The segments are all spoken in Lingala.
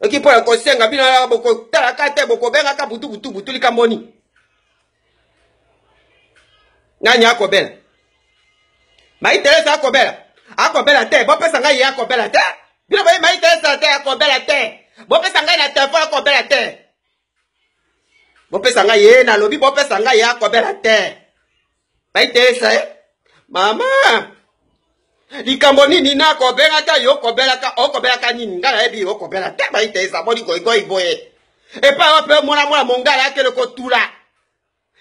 oki mpo ya kosenga bino yaka bokotalaka te bokobengaka butu butu butu likambo nini nani akobela mai teresa akobela akobela te bopesa ngai ye akobela te bino boye mai teresa te akobela te bopesa ngai na telefone akobela te bopesa ngai ye nalobi bopesa ngai ya kobela te baitesa ye mama likambo nini nakobelaka yo okobelaka okobelaka nini ngai nayebi okobela te baitesa boni goigoi boye epai wape mwana mwana mongala akele kotula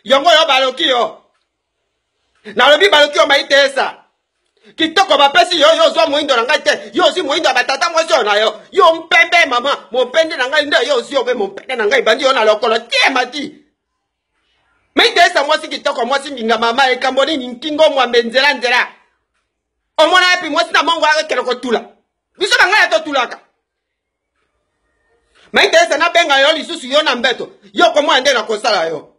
Yongo yo baloki yo. Nalobi baloki yo mayi tesa. kitoko bapesi yo yo ozwa moindo na ngai te yo ozwi moindo ya batata mwasi oyo na yo yo mpembe mama mompende na ngai nde yo ozwi obe mompende na ngai ebandi yo na lokolo tie mati mitesa mwasi kitoko mwasi mbinga mama ekambo nini nkingo mwambe nzela nzela omona yapi mwasi na mongo akekele kotula biso bangala totulaka maitese nabenga yo lisusu yo na mbeto yo komona nde nakosala yo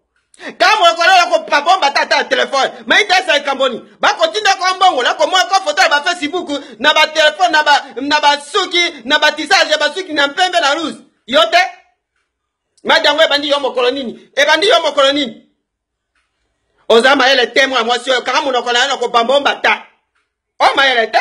ntango ekolola kopabomba tata ya telefone maitesa ekamboni bakotinda ko mbongo nakomona ko foto ya bafacebook na batelefone na basuki na batisage ya basuki na mpembe na ruse yo te madi yango ebandi yo mokolo nini ebandi yo mokolo nini oza mayele te mwa mwasi oyo kaka monoko na yo na kobambomba ta o mayele te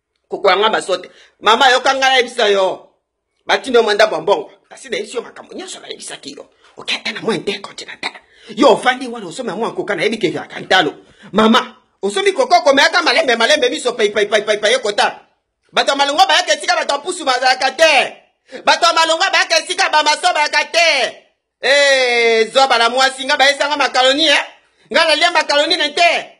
kokola nga masote mama yoka nga nayebisa yo batindi yo mwa ndako ya mbongo kasi nayebisi yo makambo nyonso nayebisaki yo okende na mwa intercontinental yo ofandi wana osomi ya mwa koka nayebi keviaka ntalo mama osomi koka okomeyaka malembe malembe miso paipaipaipai ekota bato ya malongo bayaka esika bato ya pusu bazalaka te bato ya malongo bayaka esika bamaso bayaka te ee eh, zoba na mwasi nga bayesanga makaloni e eh? nga nalia makaloni ne te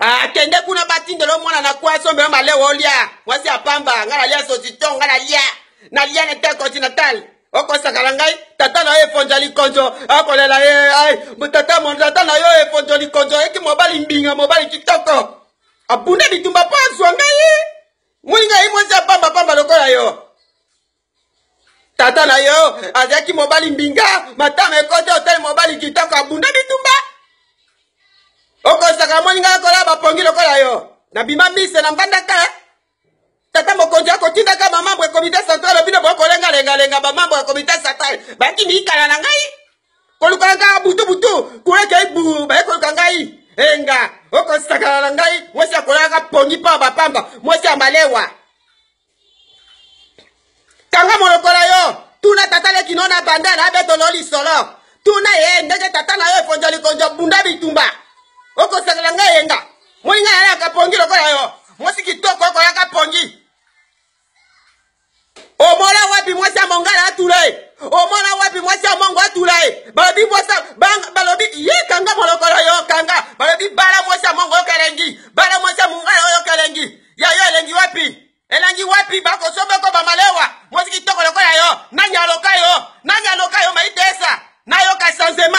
Ah, kende kuna batindela yo mwana na kwasi omema malewa olia mwasi ya pamba ngai nalia sosito ngai nalia nalia na te continental okosakala ngai tata na yo efonja likonzo akolela ye ai tata mon tata na yo efonjo likonzo eki mobali mbinga mobali kitoko abunda bitumba mpo azwa ngai molinga ye mwasi ya pamba pamba lokola yo tata na yo azalaki mobali mbinga matama ekoti otali mobali kitoko abunda bitumba okosaka moni ngai kola bapongi lokola yo nabima mise na mbandaka tata mokonzi akotindaka bamambo ya komite central bino bokolengalengalenga bamambo ya komite central baki miikala na ngai koluka ngai butubutu kulekei bu baye koluka ngai enga okosakana na ngai mwasi akolaka pongi mpo ya bapamba mwasi ya malewa kanga monoko na yo tuna tata leki no na banda na betolo lisolo tuna ye ndenge tata na yo ekonjo likonjo bunda bitumba okosakela ngai eyenga moninga na yaka pongi lokola yo mwasi kitoko okoyaka pongi omona wapi mwasi ya mongala atula ye omona wapi mwasi ya mongo atula ye balobi mwasi balobi ye kanga molokolo yo kanga balobi bala mwasi ya mongo okelengi bala mwasi ya mongala oyo okelengi ya yo elengi wapi elengi wapi bakosomba ko bamalewa mwasi kitoko lokola yo nani aloka yo nani aloka yo maitesa nayoka sanzema